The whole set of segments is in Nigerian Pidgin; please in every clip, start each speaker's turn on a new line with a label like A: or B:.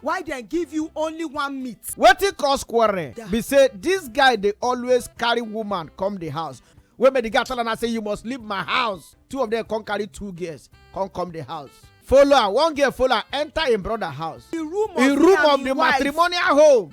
A: why dem give you only one meat wetin cause quarrel be say dis guy dey always carry woman come di house wey make di guy tell am say you must leave my house two of dem come carry two girls come come di house follow am one girl follow am enter im brother house di room of di matrimonial home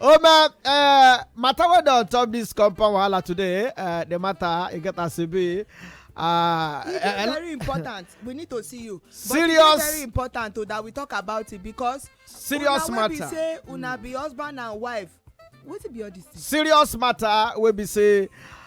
A: Oh man, uh, matter what on top this compound wahala today, uh, the matter it get as it be. Uh, it is uh, very important. we need to see you. But serious. It is very important to, that we talk about it because serious una matter. Una be say una be husband and wife. What be all this? Thing? Serious matter. We be say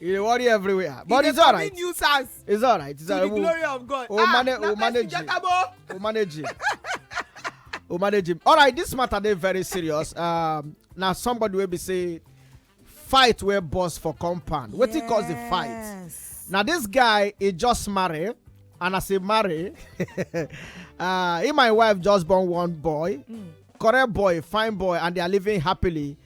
A: You dey worry everywhere. But it's alright. It's nuisance. It's alright. It's alright. To the glory of God. We'll, ah, manage, we'll manage it. We'll manage it. we'll manage it. Alright, this matter dey very serious. Um, now somebody will be say fight where boss for compound. What yes. cause the fight? Now this guy he just married and as he marry uh, he my wife just born one boy mm. correct boy fine boy and they are living happily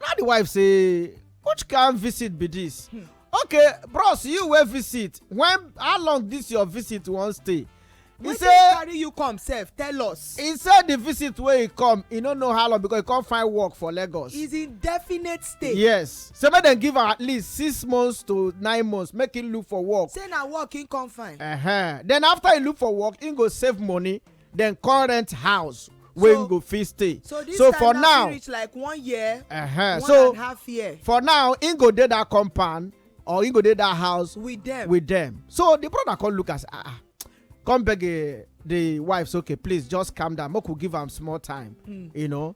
A: na the wife say which kind visit be this hmm. okay bros you wey visit when how long this your visit wan stay he say carry you come sef tell us he say the visit wey he come he no know how long because he come find work for lagos is in definite stay yes say make dem give am at least six months to nine months make him look for work say na work him come find uh -huh. then after he look for work he go save money dem come rent house wey so, go fit stay so, this so time for now reach like one year uh -huh. one so and half year for now im go dey that compound or he go dey that house with them with them so the brother come look as ah ah come beg eh, the wife say okay please just calm down make we give am small time hmm. you know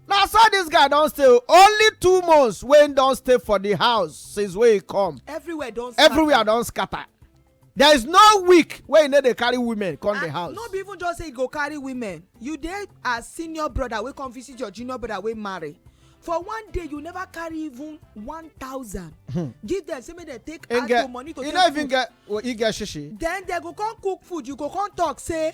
A: na so this guy don stay only two months wey don stay for the house since wey he come everywhere don scatter everywhere don scatter there is no week wey e no dey carry women come the house no be even just say e go carry women you dey as senior brother wey come visit your junior brother wey marry for one day you never carry even one thousand. Hmm. give them say make dem take add to money to take food e no even get e get shishi then dem go come cook food you go come talk say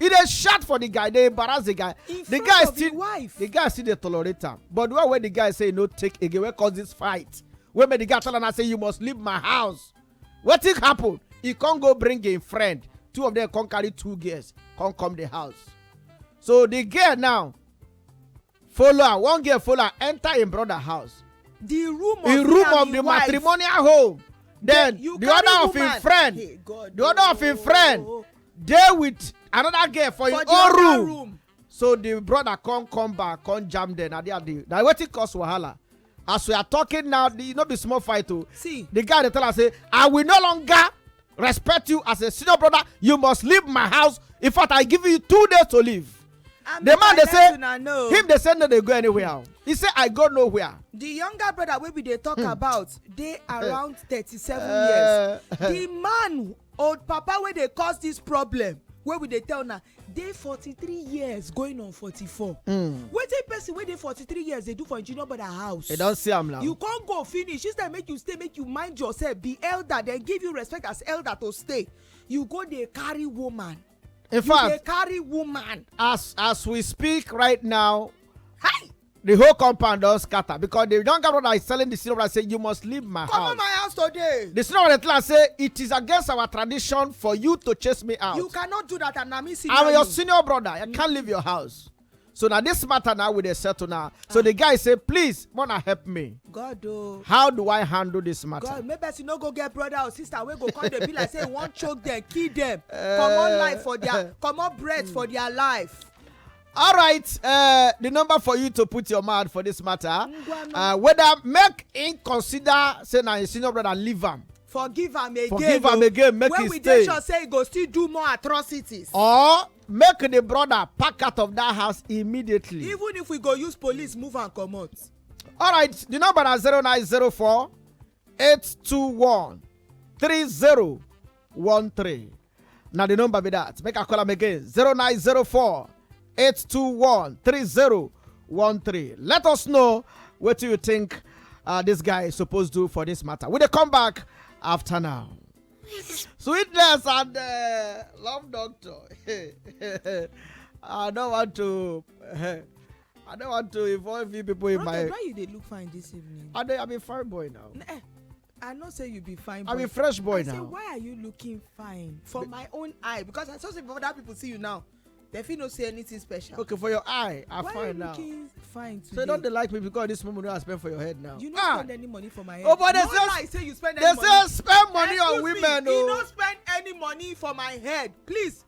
A: e dey shout for the guy dey embarrass the guy in the guy still the, wife. the guy still dey tolerate am but the one wey the guy say e no take again wey cause this fight wey make the guy tell am say you must leave my house wetin happen e come go bring im friend two of them come carry two girls come come the house so the girl now follow am one girl follow am enter im brother house the room of im room of the matrimonial home then the other of im friend the other of im friend oh. dey with another girl for im own room so the brother come come back come jam dem na there the na wetin cause wahala as we are talking now e no be small fight o see the guy dey tell am say i will no longer respect you as a senior brother you must leave my house in fact i give you two days to leave I'm the man dey say him dey say no dey go anywhere he say i go nowhere the younger brother wey we dey talk hmm. about dey eh. around thirty-seven eh. years the man old papa wey dey cause this problem wey we dey tell na dey 43 years going on 44 hmm. wetin person wey dey 43 years dey do for engineer brother house you don see am now you con go finish instead make you stay make you mind yourself be elder dem give you respect as elder to stay you go dey carry woman in fact you dey carry woman as as we speak right now hi the whole compound don scatter because the younger brother is telling the senior brother say you must leave my Come house. Come my house today. The senior brother tell am say it is against our tradition for you to chase me out. You cannot do that and na me senior. I'm your senior brother. I can't leave your house. So now this matter now we dey settle now. So ah. the guy say please mona help me. God o. Oh. How do I handle this matter? God maybe person no go get brother or sister wey go come dey be like say he wan choke them, kill them, comot eh. life for their comot breath for their life. All right, uh, the number for you to put your mouth for this matter, uh, whether make him consider say na him senior brother leave him. forgive am again forgive am oh. again make when we dey sure say he go still do more atrocities. or make the brother pack out of that house immediately. even if we go use police move am comot. All right, the number is 0904 821 3013. na the number be that make i call am again 0904 821 3013 let us know what you think uh, this guy is supposed to do for this matter we dey come back after now sweetness and uh, love doctor i don't want to uh, i don't want to involve you people in my why you dey look fine this evening i dey i'm a fine boy now eh, I know say you be fine boy. I be fresh boy I now. I say why are you looking fine? For my own eye because I saw say other people see you now. They fit no see anything special. Okay, for your eye, I why find now. Why you looking fine today? So don't they like me because this moment I spend for your head now. You no ah. spend any money for my head. Oh, but they no say lie, say you spend any money. They say spend money Excuse on women. Me, oh. You no spend any money for my head. Please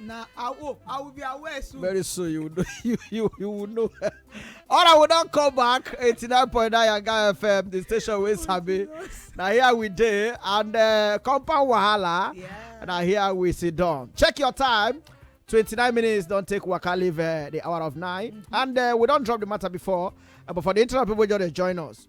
A: na awo i will be aware soon. very soon you will know you you, you will know all right we don come back eighty nine point nine yanga fm the station wey sabi na here we dey and uh, compound wahala yeah. na here we sit down check your time twenty nine minutes don take waka leave uh, the hour of nine mm -hmm. and uh, we don drop the matter before uh, but for the internet people just dey join us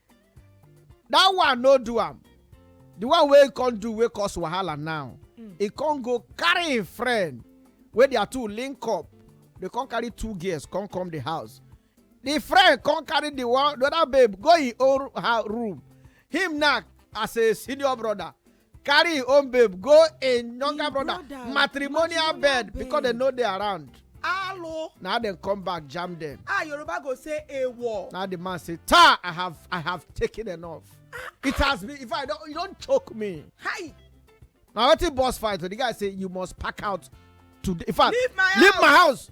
A: that one no do am the one wey come do wey cause wahala now hmm. e come go carry im friend wey their two link up dey come carry two girls come come the house the friend come carry the one the other babe go im own room him now as a senior brother carry im own babe go im younger brother matrimonial bed because dem no dey around alo na dem come back jam dem ah yoruba go say ewo na the man say ta i have i have taken enough ah, ah. it has been if i don you don choke me hi na wetin boss fight so the guy say you must pack out today in fact leave my house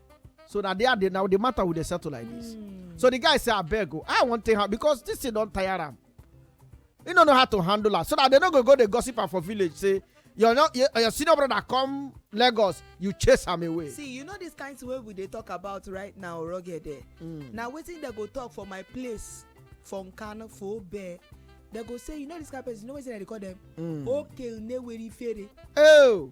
A: so na there the now the matter we dey settle like this mm. so the guy say abeg o i wan take am because this thing don tire am he no know how to handle am so that they no go go dey gossip am for village say your no your, your senior brother come lagos you chase am away. see you know this kind wey we dey talk about right now rugged eh mm. na wetin dem go talk for my place for nkano for obe dem go say you know this kind person you know wetin dem dey call them. Mm. oke uneweri fere. Oh.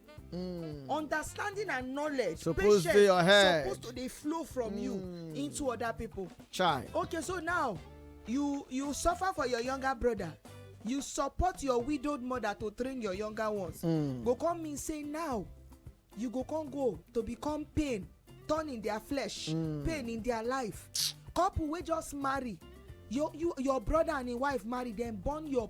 A: Mm. understanding and knowledge suppose patience your head. suppose to dey flow from mm. you hmm. into other people. Chai. okay so now you you suffer for your younger brother you support your widowed mother to train your younger ones. Mm. go come mean say now you go come go to become pain turn in their flesh mm. pain in their life couple wey just marry your you, your brother and im wife marry dem born your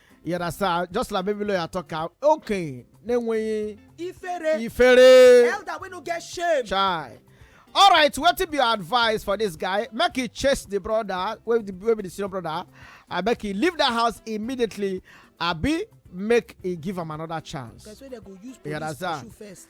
A: You understand? Just like baby lawyer talk am. Okay, na-enweghị ifere ifere. elder wey no get shame Chai. All right, wetin be your advice for this guy? Make he chase the brother, wey the wey be the senior brother, and make he leave that house immediately. Abi make he give am another chance. person wey dem go use You police understand? pursue first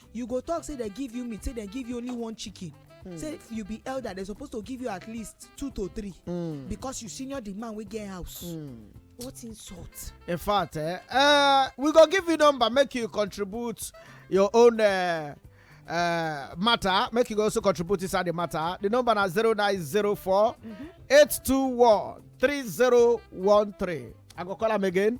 A: you go talk say dem give you meat say dem give you only one chicken hmm. say if you be elder dem suppose to give you at least two to three hmm. because you senior the man wey get house hmm. what insult in fact eh uh, we go give you number make you contribute your own uh, uh, matter make you also contribute inside the matter the number na 0904 821 3013 i go call am again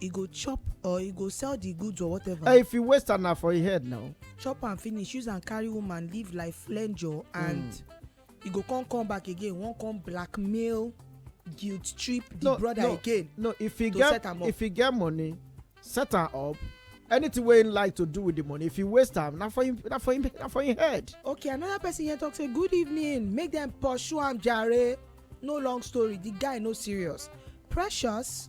A: e go chop or e go sell the goods or whatever. Uh, if you waste am na for your head now. chop am finish use am carry woman live like flenjo and mm. e go come come back again wan come blackmail guilt trip the no, brother no, again. no if he get if he get money set am up anything wey him like to do with the money if he waste am na for him na for him na for him head. okay another person here talk say good evening make dem pursue am jare no long story the guy no serious precious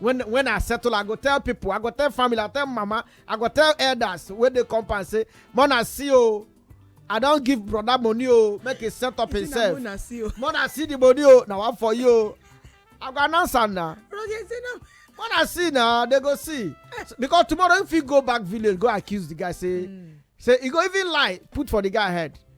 A: when when i settle i go tell people i go tell family i tell mama i go tell elders wey dey compound say mona see o oh, i don give brother money o oh, make he set up himself oh. mona see the money o na one for you o i go announce am na mona see na they go see because tomorrow if you go back village go accuse the guy say hmm. say he go even lie put for the guy head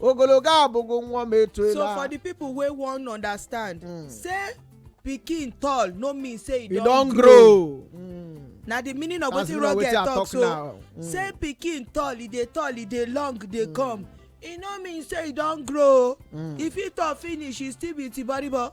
A: ogologo abụghị nwa m etuela so for the people wey wan understand mm. say pikin tall no mean say e don grow mm. na the meaning of wetin roger talk so mm. say pikin tall e dey tall e dey long dey mm. come e no mean say e don grow mm. e fit tall finish e still be tiboribo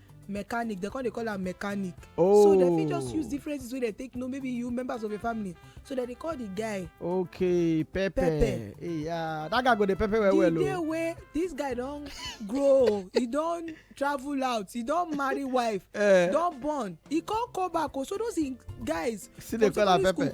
A: mechanic they come dey call am mechanic oh. so dem fit just use oh. different things wey dem take know maybe you members of your family so dem dey call the guy okay pepper pepper yeah that guy go dey pepper well well o the oh. day wey this guy don grow he don travel out he don marry wife uh, don born he come come back o oh. so those guys still dey call am pepper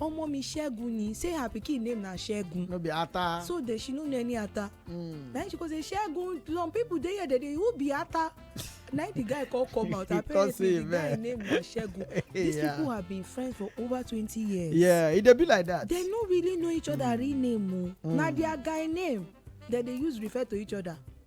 A: Omo mi Segun ni say her pikin name na Segun. No be Ata. So dey she no know any Ata. Mm. Na she go say Segun some people dey here dey dey who be Ata. na the guy come come out apparently the guy name na Segun. These yeah. people have been friends for over twenty years. Yeah, e dey be like that. They no really know each other mm. real name o. Oh. Mm. Na their guy name dem dey use refer to each other.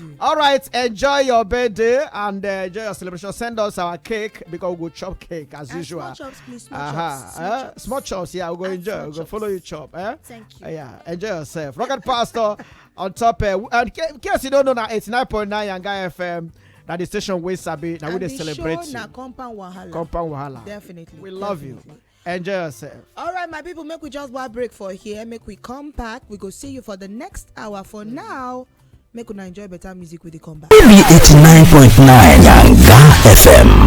A: you. All right, enjoy your birthday and uh, enjoy your celebration. Send us our cake because we go chop cake as uh, usual. Small chops, please. Small uh-huh. chops. Small, uh, chops. small chops. Yeah, we go uh, enjoy. We go follow you chop. Eh? Thank you. Uh, yeah, enjoy yourself. Rocket Pastor on top. Uh, and in case you don't know, now eighty nine point nine Yanga FM. That the station we sabi. Now we dey celebrate. Show, na compound wahala. Compound wahala. Definitely. We love Definitely. you. Enjoy yourself. All right, my people, make we just one break for here. Make we come back. We go see you for the next hour. For now, make we enjoy better music with the comeback. 89.9 Yanga FM.